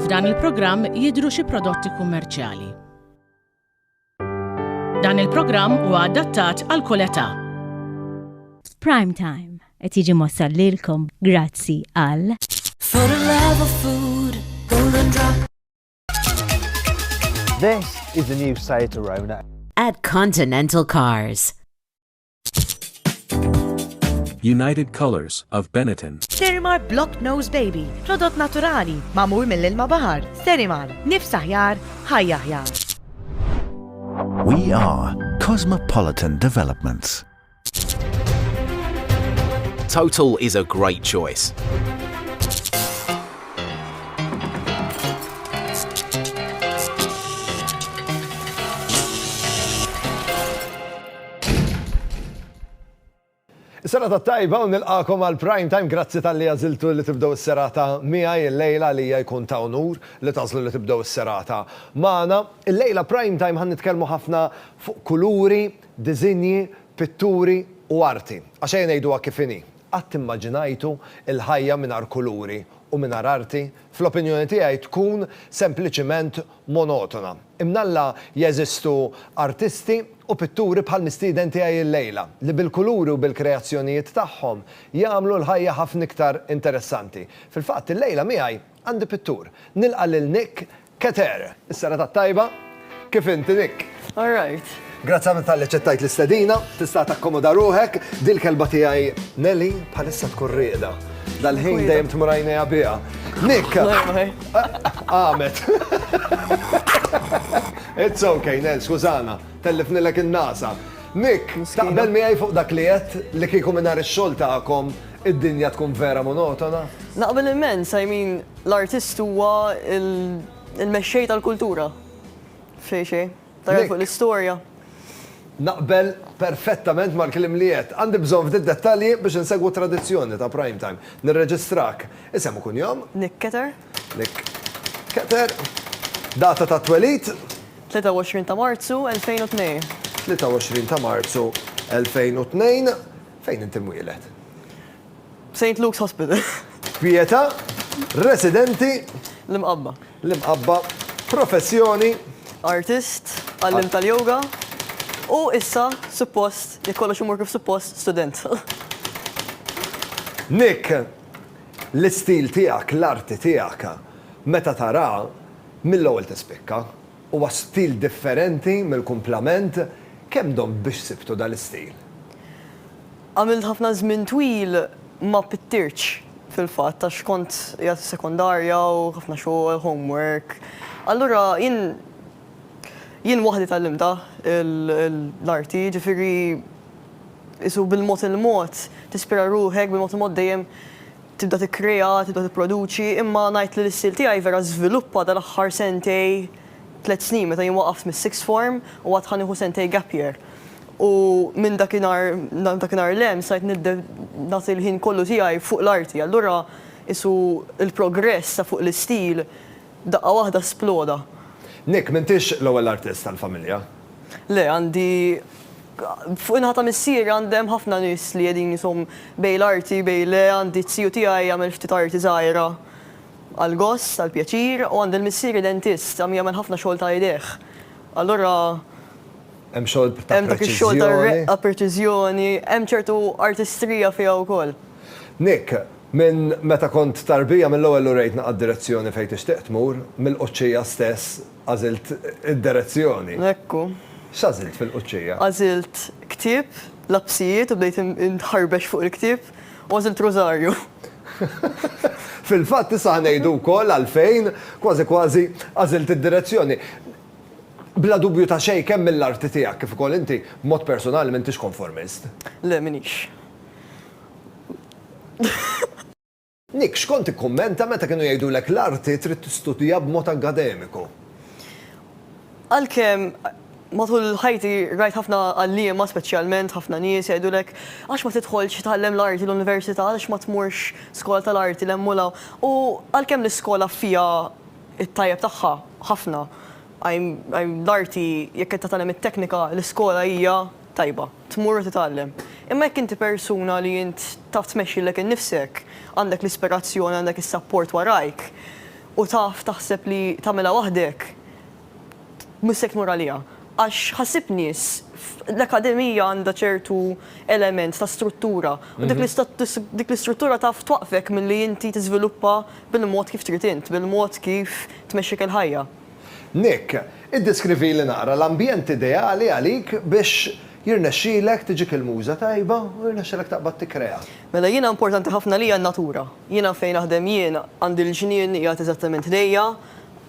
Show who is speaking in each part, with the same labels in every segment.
Speaker 1: F'dan il-programm jidhru xi prodotti kummerċjali. Dan il-programm huwa adattat għal kull età.
Speaker 2: Prime Time qed jiġi mossal lilkom grazzi għal For the
Speaker 3: love of food, golden drop.
Speaker 4: This is the new Seat Arona. At Continental
Speaker 3: Cars.
Speaker 5: United Colors of Benetton. Sterimar Block
Speaker 6: Nose Baby, prodott naturali, mamur mill-ilma bahar. Sterimar, nifs aħjar, ħajja aħjar.
Speaker 7: We are Cosmopolitan Developments.
Speaker 8: Total is a great choice.
Speaker 9: Sena ta' tajba u nilqakom għal prime time grazzi tal-li għaziltu li tibdow is-serata miegħi il-lejla li hija jkun ta' unur li tażlu li tibdow is-serata. Magħna, il-lejla prime time ħan nitkellmu ħafna fuq kuluri, diżinji, pitturi u arti, għax ejja ngħiduha kif inhi, qatt immaġinajtu l-ħajja mingħajr kuluri u mingħajr arti? Fl-opinjoni tiegħi tkun sempliċiment monotona. Imnalla jeżistu artisti u pitturi bħall-mistieden tiegħi llejla, li bil-kuluri u bil-kreazzjonijiet tagħhom jagħmlu l-ħajja ħafna iktar interessanti. Fil-fatt, illejla miegħi Għandi pittur. Nilqa' lil Nick Keter. Is-serata t-tajba. Kif inti, Nick? All right.
Speaker 10: Grazzi ħafna talli ċettajt
Speaker 9: l-istedina, tista' takkomoda ruħek, dil kelba tiegħi Nelly bħalissa tkun rieda. Dal-ħin dejjem tmur għajnejha biha. Nick! Għamet. It's okay, Nel, skużana, tellifnilek in-nasa. Nick, taqbel miegħi fuq dak li qed li kieku mingħajr ix-xogħol tagħkom Id-dinja tkun vera monotona? Naqbel immens,
Speaker 10: I mean, l-artist huwa il-mexxej tal-kultura. Xejn xejn. Tara fuq l-istorja. Naqbel
Speaker 9: perfettament mal-kliem li għedt. Għandi bżonn ftit dettalji biex insegwu t-tradizzjoni ta' Prime Time. Nirreġistrak. Isem u kunjom? Nick Keter.
Speaker 10: Nick
Speaker 9: Keter. Data tat-twelid? 23
Speaker 10: ta' Marzu 2002. 23 ta'
Speaker 9: Marzu 2002. Fejn int imwieled?
Speaker 10: Saint Luke's Hospital. Pietà,
Speaker 9: residenti. L-Imqabba.
Speaker 10: L-Imqabba,
Speaker 9: professjoni. Artist,
Speaker 10: għalliem tal-yoga, u issa, suppost, jekk kollox imur kif suppost, student.
Speaker 9: Nick, l-istil tiegħek, l-arti tiegħek, meta taraha, mill-ewwel tispikka. Huwa stil differenti mill-kumplament, kemm domt biex sibtu dan l-istil?
Speaker 10: Għamilt ħafna żmien twil ma pittirtx fil-fatt għax kont qiegħed fis-sekondarja u ħafna xogħol, homework. Allura jien jien waħdi tgħallimtha l-arti, jiġifieri qisu bil-mod il-mod tispira ruħek, bil-mod il-mod dejjem Tibda tikkrea, tibda tipproduċi, imma ngħid li l-istil tiegħi vera żviluppa dal-aħħar sentej, tliet snin meta jien waqaft mis-sixth form u għad ħa nieħu sentej gap year. U minn dakinhar, dakinhar 'l hemm stajt nagħti l-ħin kollu tiegħi fuq l-arti. Allura qisu l-progress ta' fuq l-istil Daqqa waħda sploda. Nick, m'intix
Speaker 9: l-ewwel artist tal-familja. Le, għandi
Speaker 10: fuq in-naħa ta' missieri għandi hemm ħafna nies li qegħdin ishom bejn l-arti bejn le, għandi t-tiju tiegħi jagħmel ftit arti żgħira għall-gost, għall-pjaċir, u għandi l-missieri dentist, għam jagħmel ħafna xogħol ta' idejh. Allura.
Speaker 9: Hemm xogħol ta' preċiżjoni. Hemm dak ix-xogħol ta' reqqa,
Speaker 10: preċiżjoni, hemm ċertu artistrija fiha wkoll. Nick,
Speaker 9: Minn meta kont tarbija mill-ewwel urejtna għad-direzzjoni fejn tixtieq tmur, mill-Quċċija stess għażilt id-derezzjoni. Hekku.
Speaker 10: X'għażilt
Speaker 9: fil-Quċċija? Għażilt
Speaker 10: ktieb, lapsijiet u bdejt inħarbex fuq il-ktieb u għażilt rużarju. Fil-fatt
Speaker 9: issa ħa ngħidu wkoll għalfejn, kważi kważi, għażilt id-direzzjoni. Bla dubju ta' xejn kemm mill-arti tiegħek kif ukoll inti b'mod personali m'intix konformist. Le m'inix. Nick, x'kont tikkummenta meta kienu jgħidulek l-arti trid tistudja b'mod akkademiku? Għalkemm
Speaker 10: matul ħajti rajt ħafna għalliema speċjalment ħafna nies jgħidulek għax ma tidħolx titgħallem l-arti l-università, għaliex ma tmurx skola tal-arti 'l hemm u 'l hawn. U għalkemm l-iskola fiha t-tajjeb tagħha ħafna, l-arti jekk qed titgħallem it-teknika l-iskola hija tajba. tmur u titgħallem. Imma jekk inti persuna li int taf tmexxi lilek innifsek, għandek l-ispirazzjoni, għandek is-sapport warajk, u taf taħseb li tagħmilha waħdek, mhux se tmur għaliha. Għax ħassib nies, l-akkademija għandha ċertu element ta' struttura, u dik dik l-istruttura taf twaqqfek milli inti tiżviluppa bil-mod kif trid int, bil-mod kif tmexxik il-ħajja. Nick,
Speaker 9: iddeskrivili naqra l-ambjent ideali għalik biex jirnexxilek tiġik il-muża tajba u jirnexxilek taqbad tikkrea. Mela jiena importanti
Speaker 10: ħafna għalija n-natura. Jiena fejn naħdem jien għandi l-ġnien qiegħed eżattament ħdejja,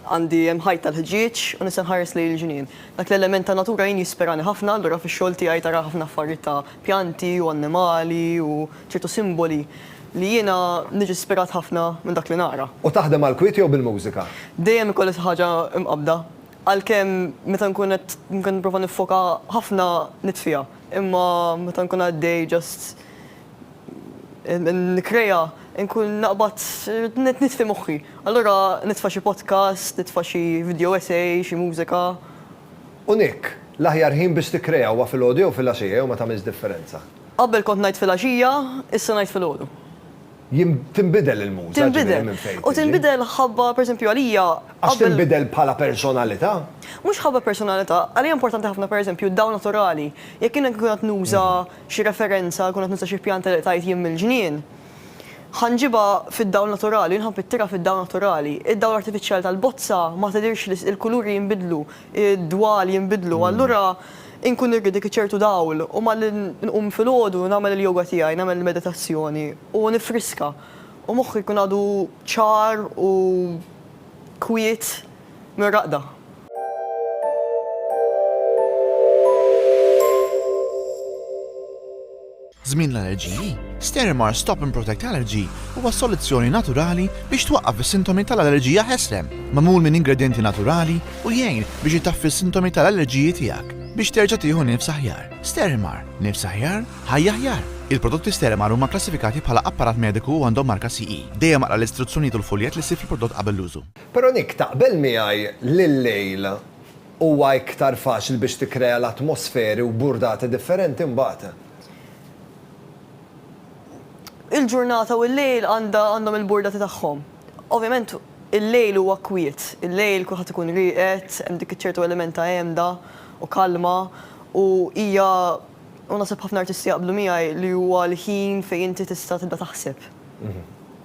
Speaker 10: għandi hemm ħajt tal-ħġieġ u nista' nħares lejn il-ġnien. Dak l-element tan-natura jien jisperani ħafna, allura fix-xogħol tiegħi tara ħafna affarijiet ta' pjanti u annimali u ċertu simboli li jiena niġi spirat ħafna minn dak li naqra. U taħdem għall-kwiet jew
Speaker 9: bil-mużika? Dejjem ikolli xi ħaġa
Speaker 10: mqabbda. Għalkemm meta nkun qed nipprova niffoka ħafna nitfiha, imma meta nkun għaddej just nikkrea, inkun naqbad nitfi moħħi. Allura nitfa' xi podcast, nitfa' xi video essay, xi mużika. U
Speaker 9: Nick, L-aħjar ħin biex tikkrea huwa filgħodu jew filgħaxija jew ma tagħmilx differenza. Qabel kont ngħid
Speaker 10: filgħaxija, issa ngħid filgħodu. Jien,
Speaker 9: tinbidel il-muża, ġifieri minn fejn tiġi.
Speaker 10: Tinbidel. U tinbidel ħabba, pereżempju għalija, qabel. Għax tinbidel
Speaker 9: bħala personalità? Mhux ħabba
Speaker 10: personalità. Għalija importanti ħafna, pereżempju, d-dawl naturali. Jekk jien nkun qed nuża xi referenza, nkun qed nuża xi pjanta li qtajt jien mill-ġnien. Ħa nġibha fid-dawl naturali, nħobb it-tira fid-dawl naturali. Id-dawl artifiċjali tal-bozza ma tidhirx li il-kuluri jinbidlu, id-dwal jinbidlu. Allura inkun irrid dik iċ-ċertu dawl u malli nqum filgħodu nagħmel il-yoga tiegħi, nagħmel il-meditazzjoni u nifriska u moħħi jkun għadu ċar u kwiet. mir-raqda.
Speaker 11: Żmien l-allerġiji, Sterimer Stop and Protect Allergy huwa soluzzjoni naturali biex twaqqaf is-sintomi tal-allerġija ħesrem. Magħmul minn ingredjenti naturali u jgħin biex itaffi s-sintomi tal-allerġiji tiegħek biex terġa' tieħu nifs aħjar. Sterimer, nifs aħjar, ħajja aħjar! Il-prodotti Sterimer huma kklassifikati bħala apparat mediku u għandhom marka CE. Dejjem aqra l-istruzzjonijiet u l-fuljett li ssib fil-prodott qabel l-użu. Però Nick, taqbel
Speaker 9: miegħi li llejl huwa iktar faċli biex tikkrea l-atmosferi u burdati differenti mbagħad?
Speaker 10: Il-ġurnata u llejl għandha għandhom il-burdati tagħhom. Ovvjament il-lejl huwa kwiet, il-lejl kulħadd ikun rieqed, hemm dik iċ-ċertu element ta' għemda u kalma u hija u naħseb ħafna artisti jaqblu miegħi li huwa l-ħin fejn inti tista' tibda taħseb.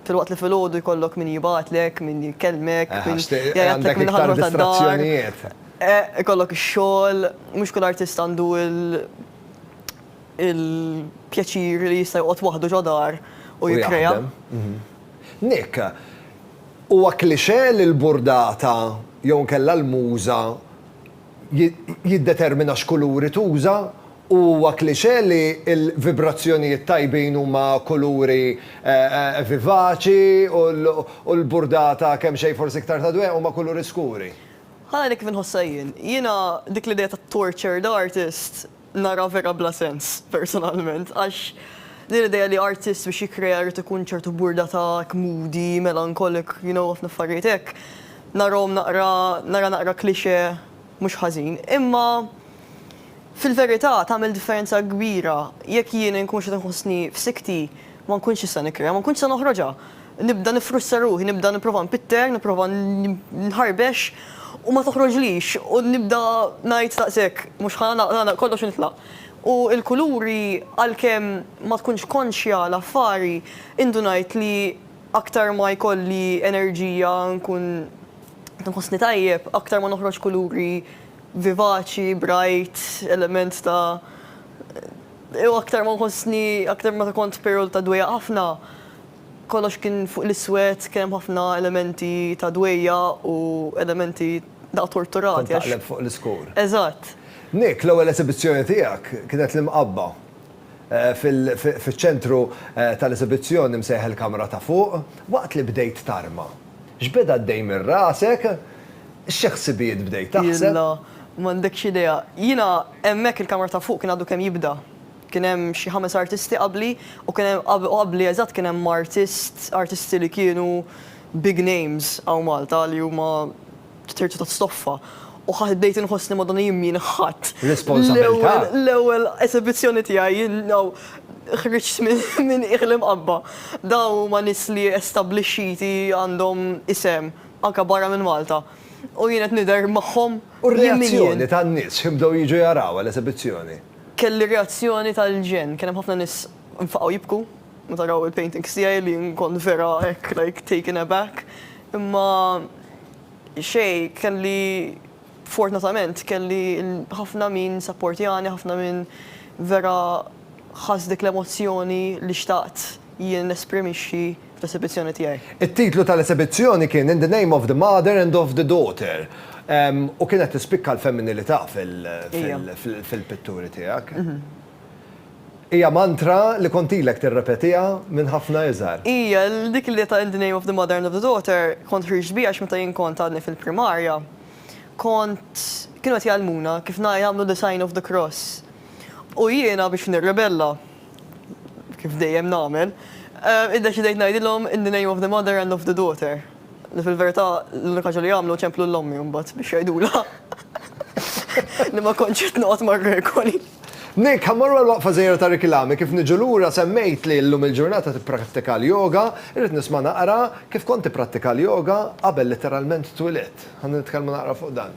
Speaker 10: Filwaqt li filgħodu jkollok min jibgħatlek, min jkellmek, min jgħidlek minn ħaddieħor tad-dar. Ikollok ix-xogħol, mhux kull artist għandu l-pjaċir li jista' joqgħod waħdu ġo dar u jikkrea.
Speaker 9: Nick, huwa klixe li l-burdata jew inkella l-muża jiddetermina x'kuluri tuża u huwa klixe li l-vibrazzjonijiet tajbin huma kuluri vivaċi u l-burdata kemmxejn forsi iktar ta' dwejjaq huma kuluri skuri. Ħa ngħidlek kif
Speaker 10: inħossha jien. Jiena dik l-idea ta' tortured artist Nara vera bla sens, personalment, għax din l-idea li artist biex jikkrea jrid ikun ċertu burdatak, moody, melancholic, you know, ħafna affarijiet hekk, narahom naqra, nara naqra cliché mhux ħażin. Imma fil-verità tagħmel differenza kbira jekk jien inkunx qed inħossni f'sikti, Ma nkunx nista' nikkrea, ma nkunx nista' noħroġha. Nibda niffrustra ruħi, nibda nipprova npitter, nipprova nħarbex u ma toħroġlix u nibda ngħid daqshekk, mhux ħa nagħlaq kollox u nitlaq. U l-kuluri għalkemm ma tkunx konxja l-affari, indunajt li aktar ma jkolli enerġija nkun nħossni tajjeb, aktar ma noħroġ kuluri vivaċi, bright, element ta' U aktar ma nħossni, aktar meta kont perjodu ta' dwejjaq ħafna, kollox kien fuq l-iswed, kien hemm ħafna elementi ta' dwejjaq u elementi daqqa torturati għax. Kont taqleb fuq l-iskur.
Speaker 9: Eżatt.
Speaker 10: Nick, l-ewwel
Speaker 9: esibizzjoni tiegħek kienet l-Imqabba. Fiċ-ċentru tal-esibizzjoni msejjaħ il-kamra ta' fuq, waqt li bdejt tarma. X'beda għaddej minn rasek? Xi ħsibijiet bdejt taħseb? Jilla, m'għandekx
Speaker 10: idea. Jiena Hemmhekk il-kamra ta' fuq kien għadu kemm jibda. Kien hemm xi ħames artisti qabli u kien hemm u qabli eżatt kien hemm artist, artisti li kienu big names hawn Malta li huma terzu ta' stoffa. U ħa bdejt inħossni Madonna jien min ħadt. Responsabilità! L-ewwel
Speaker 9: l-ewwel
Speaker 10: esebizzjoni tiegħi jien hawn ħriġt minn qiegħ l-imqabba. Dawn huma nies li establixxiti għandhom isem anke barra minn Malta. U jien qed nidher magħhom. U r-reazzjoni
Speaker 9: tan-nies, x'ħin bdew jiġu jarawha l-esebizzjoni? Kelli
Speaker 10: reazzjoni tal-ġenn, kien hemm ħafna nies nfaqgħu jibku meta raw il-paintings tiegħi li kont vera hekk like taken aback. Imma xejn, kelli fortunatament kelli ħafna min sapportjani, ħafna min vera ħass dik l-emozzjoni li xtaqt jien nesprimixxi. fl-esibizzjoni tiegħi. It-titlu tal-esibizzjoni
Speaker 9: kien In the Name of the Mother and of the Daughter u kienet tispikka l-femminilità fil-pitturi tiegħek. Hija mantra li kont ilek tirrepetiha minn ħafna iżgħar. Hija, dik l-idea
Speaker 10: ta' In the Name of the Mother and of the Daughter kont ħriġt biha għax meta jien kont għadni fil-primarja kont, kienu qed jgħallmuna kif jagħmlu the sign of the cross u jiena biex nirribella kif dejjem nagħmel, iddeċidejt ngħidilhom in the name of the mother and of the daughter, li fil-verità l-unika ħaġa li għamlu ċemplu lil ommi mbagħad biex jgħidulha li ma kontx qed noqgħod mar-regoli. Nick, ħa mmorru
Speaker 9: għall-waqfa żgħira ta' rekilami, kif niġu lura semmejt li llum il-ġurnata tipprattika l-yoga, irrid nisma' naqra kif kont tipprattika l-yoga qabel litteralment twilidt. Ħa nitkellmu naqra fuq dan.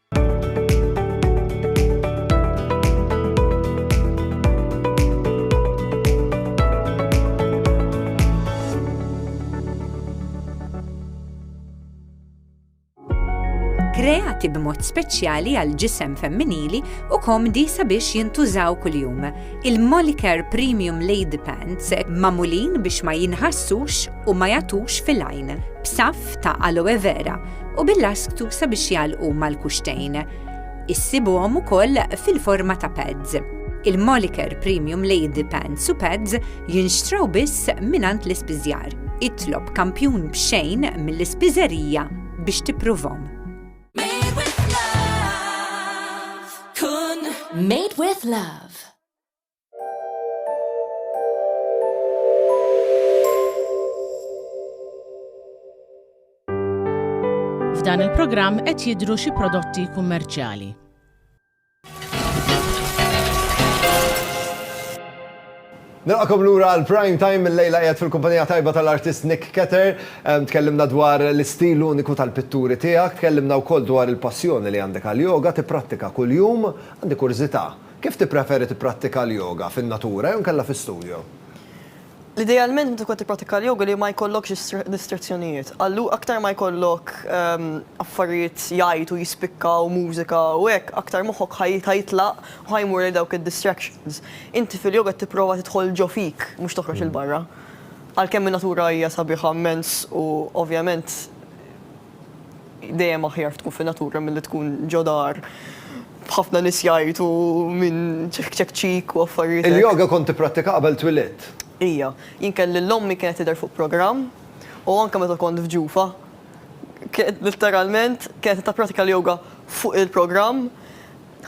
Speaker 12: kreati b'mod speċjali għal ġisem femminili u komdi sabiex jintużaw kuljum. Il-Molicare Premium Lady Pants mamulin biex ma jinħassux u ma jatux fil-għajn, b'saf ta' aloe vera u bil-lasktu sabiex jgħalqu mal-kuxtejn. Issibuhom ukoll fil-forma ta' pads. Il-Moliker Premium Lady Pants u Pads jinxtraw biss minant l-ispiżjar. Itlob kampjun b'xejn mill-ispiżerija biex tipprovhom. Made
Speaker 3: with love.
Speaker 1: F'dan il-programm qed jidhru xi prodotti kummerċjali.
Speaker 9: Nilqakom lura għal prime time il-lejla qiegħed fil-kumpanija tajba tal-artist Nick Ketter. Tkellimna dwar l-istil uniku tal-pitturi tiegħek, tkellimna wkoll dwar il-passjoni li għandek għal-yoga, tipprattika kuljum, għandi kurżità. Kif tippreferi tipprattika l-yoga, fin-natura jew inkella fi studio?
Speaker 10: Idealment meta tkun qed tipprattika l-yoga li ma jkollokx distrazzjonijiet. Allu aktar ma jkollok affarijiet jgħajtu, jispikkaw, mużika u hekk, aktar moħħok ħa jitlaq u ħa jmur lejn dawk id-distractions. Inti fil-yoga qed tipprova tidħol ġo fik, mhux toħroġ 'il barra. Għalkemm in-natura hija sabiħa mmens u ovvjament, Dejjem aħjar tkun fin-natura milli tkun ġo dar b'ħafna nies jgħajtu minn ċekk ċekk ċik u affarijiet hekk. Il-yoga kont tipprattika
Speaker 9: qabel twilidt? Ija. Jien
Speaker 10: kelli l-ommi kienet tidher fuq programm u anke meta kont f'ġufa kienet litteralment kienet tappratika l-yoga fuq il-programm,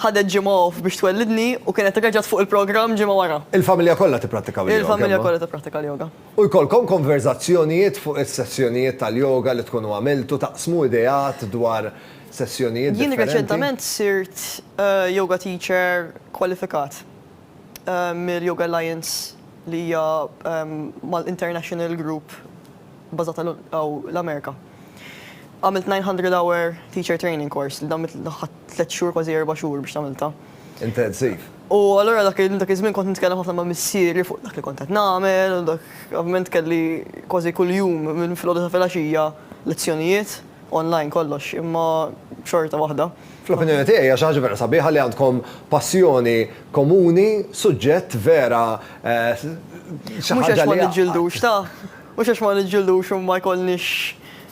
Speaker 10: ħadet ġimgħa off biex twellidni u kienet reġgħet fuq il-programm ġimgħa wara. Il-familja kollha tipprattikaw
Speaker 9: il-yoga? Il-familja kollha tippratika l-yoga.
Speaker 10: u jkollkom
Speaker 9: konverżazzjonijiet fuq is-sessjonijiet tal-yoga li tkunu għamiltu, taqsmu ideat dwar sessjonijiet differenti.
Speaker 10: Jien reċentament
Speaker 9: sirt
Speaker 10: yoga teacher kwalifikat mill-Yoga Alliance li hija mal-international group bażata hawn l-Amerika. Għamilt 900 hour teacher training course li dan ħadt tliet xhur kważi erba' xhur biex tagħmiltha. Intensiv.
Speaker 9: U allura
Speaker 10: dak iż-żmien kont nitkellem ħafna ma' missieri fuq dak li kont qed nagħmel u dak, ovvjament kelli kważi kuljum minn filgħodu sa filgħaxija lezzjonijiet, online kollox, imma xorta waħda. Fl-opinjoni tiegħi hija xi
Speaker 9: ħaġa vera sabiħa li għandkom passjoni komuni, suġġett vera xi ħaġa li jgħaqqad. Mhux għax ma
Speaker 10: niġġildux ta'.
Speaker 9: Mhux għax ma
Speaker 10: niġġildux u ma jkollniex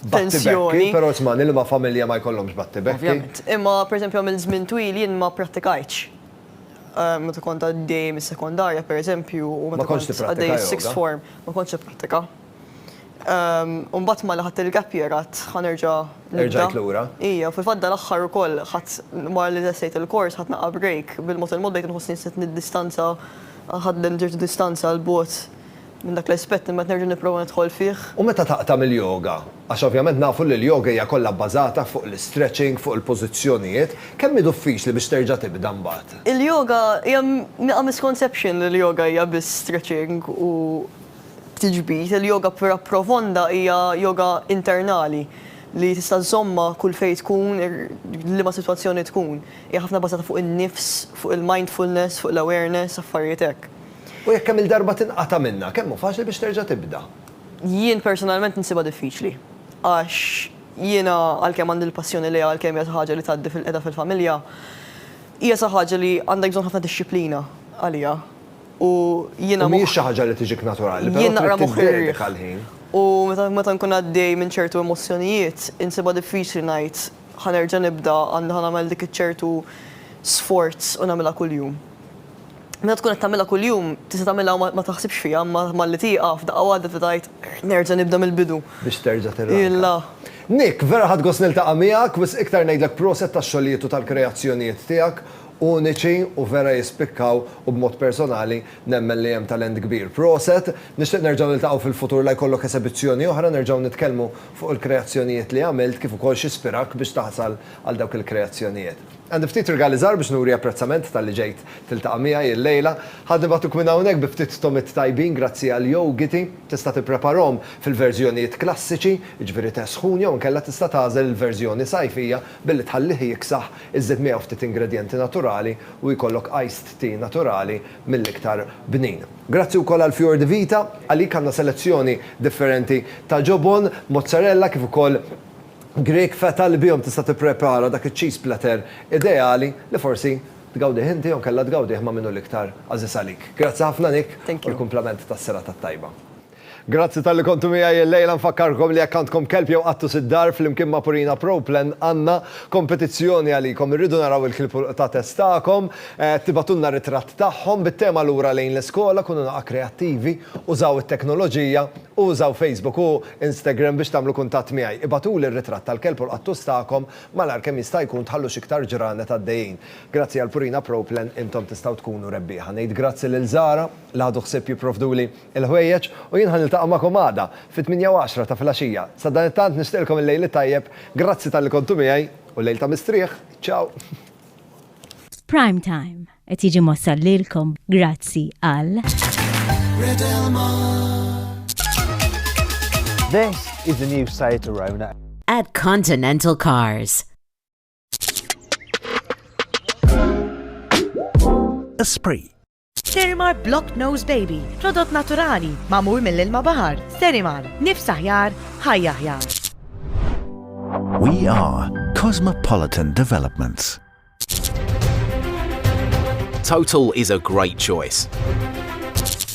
Speaker 10: tensjoni. Battibekki, però isma' nilma'
Speaker 9: familja ma jkollhomx battibekki. Ovvjament. Imma pereżempju
Speaker 10: għamilt żmien twil jien ma pprattikajtx. Meta kont għaddej mis-sekondarja pereżempju u meta kont għaddej is-sixth form ma kontx nipprattika. U mbagħad malli ħadt il-gap year għadt ħa nerġa' nibda. Erġajt lura? Ija,
Speaker 9: fil-fatt dal-aħħar
Speaker 10: ukoll ħadt wara li lestejt il-kors ħadt naqra break bil-mod il-mod bdejt inħossni nsiet niddistanza, ħadt distanza 'l bogħod Minn dak l-aspett imbagħad nerġa' nipprova nidħol fih. U meta taqta'
Speaker 9: mill-yoga? Għax ovvjament nafu li l-yoga hija kollha bbażata fuq l-istretching, fuq il-pożizzjonijiet. Kemm hi duffiċli biex terġa' tibda mbagħad? Il-yoga, hija
Speaker 10: nieqa' misconception li l-yoga hija biss stretching u tiġbid. Il-yoga vera profonda hija yoga internali li tista' żżommha kull fejn tkun, f'liema sitwazzjoni tkun. Hija ħafna bbażata fuq in-nifs, fuq il-mindfulness, fuq l-awareness, affarijiet hekk. U jekk kemm-il darba
Speaker 9: tinqata' minnha, kemm hu faċli biex terġa' tibda? Jien
Speaker 10: personalment insibha diffiċli. Għax jiena għalkemm għandi l-passjoni lejha għalkemm hija xi ħaġa li tgħaddi fil-qeda fil-familja, hija xi ħaġa li għandek bżonn ħafna dixxiplina għaliha. U jiena. U mhijiex xi ħaġa li tiġik
Speaker 9: naturali, però trid tiddedika l-ħin. U meta
Speaker 10: nkun għaddej minn ċertu emozzjonijiet, insibha diffiċli ngħid ħa nerġa' nibda, anzi ħa nagħmel dik iċ-ċertu sforz u nagħmilha kuljum. Meta tkun qed tagħmilha kuljum, tista' tagħmilha u ma taħsibx fiha, imma malli tieqaf, daqqa waħda tibda tgħid, Nerġa' nibda mill-bidu. Biex terġa'
Speaker 9: tirranka. Nick, vera ħadt gost niltaqa' miegħek, wisq iktar ngħidlek proset tax-xogħlijiet u tal-kreazzjonijiet tiegħek, uniċi u vera jispikkaw u b'mod personali nemmen li hemm talent kbir. Proset, nixtieq nerġgħu niltaqgħu fil-futur la jkollok esebizzjoni oħra nerġgħu nitkellmu fuq il-kreazzjonijiet li għamilt kif ukoll x'ispirak biex taħsal għal dawk il-kreazzjonijiet. Għandi ftit rigali żgħar biex nuri apprezzament talli ġejt tiltaqa' miegħi illejla. Ħadd nibgħatuk minn hawnhekk bi ftit tomiet tajbin grazzi għal Yougity. Tista' tippreparahom fil-verżjonijiet klassiċi, jiġifieri te sħun jew inkella tista' tagħżel il-verżjoni sajfija billi tħallih jiksaħ, iżżid miegħu ftit ingredjenti naturali u jkollok iced tea naturali mill-iktar bnin. Grazzi wkoll għal Fior di Vita. Għalik għandna selezzjoni differenti ta' ġobon, mozzarella kif ukoll Grieg feta' li bihom tista' tipprepara dak iċ-cheese platter ideali li forsi tgawdih inti jew inkella tgawdih ma' min hu l-iktar għażiż għalik. Grazzi ħafna Nick u l-kumplament tas-serata t-tajba. Grazzi talli kontu miegħi illejla, nfakkarkom li jekk għandkom kelb jew qattus id-dar flimkien ma' Purina Pro Plan għandna kompetizzjoni għalikom, irridu naraw il-klib u l-qtates tagħkom, tibgħatulna ritratt tagħhom bit-tema lura lejn l-iskola, kunu naqgħa kreattivi, użaw it-teknoloġija, Użaw Facebook u Instagram biex tagħmlu kuntatt miegħi. Ibagħtuli r-ritratt tal-kelb u l-qattus tagħkom malajr kemm jista' jkun tħallu x'iktar ġranet għaddejjin. Grazzi għal Purina Pro Plan intom tistgħu tkunu rebbieħa. Ngħid grazzi lil Zara li ħadu ħsieb jipprovduli l-ħwejjeġ u jien ħa niltaqa' magħkom għada fit-tmienja u għaxra ta' filgħaxija. Sadanittant nixtieqilkom il-lejl it-tajjeb, grazzi talli kontu miegħi u lejl ta' mistrieħ. Ciao! F'Prime
Speaker 2: Time. Qed jiġi mossal lilkom grazzi għal.
Speaker 4: This is the new Seat Arona. At Continental
Speaker 13: Cars.
Speaker 14: Esprit. Sterimar
Speaker 6: Block Nose Baby, prodott naturali, mamur mill-ilma bahar. Sterimar, nifs aħjar, ħajja aħjar.
Speaker 7: We are Cosmopolitan Developments.
Speaker 8: Total is a great choice.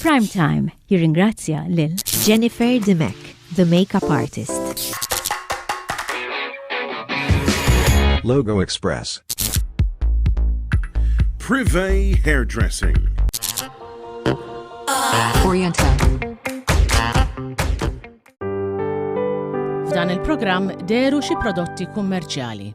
Speaker 2: Prime Time jirringrazzja lil Jennifer Dimek,
Speaker 15: the makeup artist.
Speaker 16: Logo Express.
Speaker 17: Privé Hairdressing.
Speaker 1: Orienta. F'dan il-programm deru xi prodotti kummerċjali.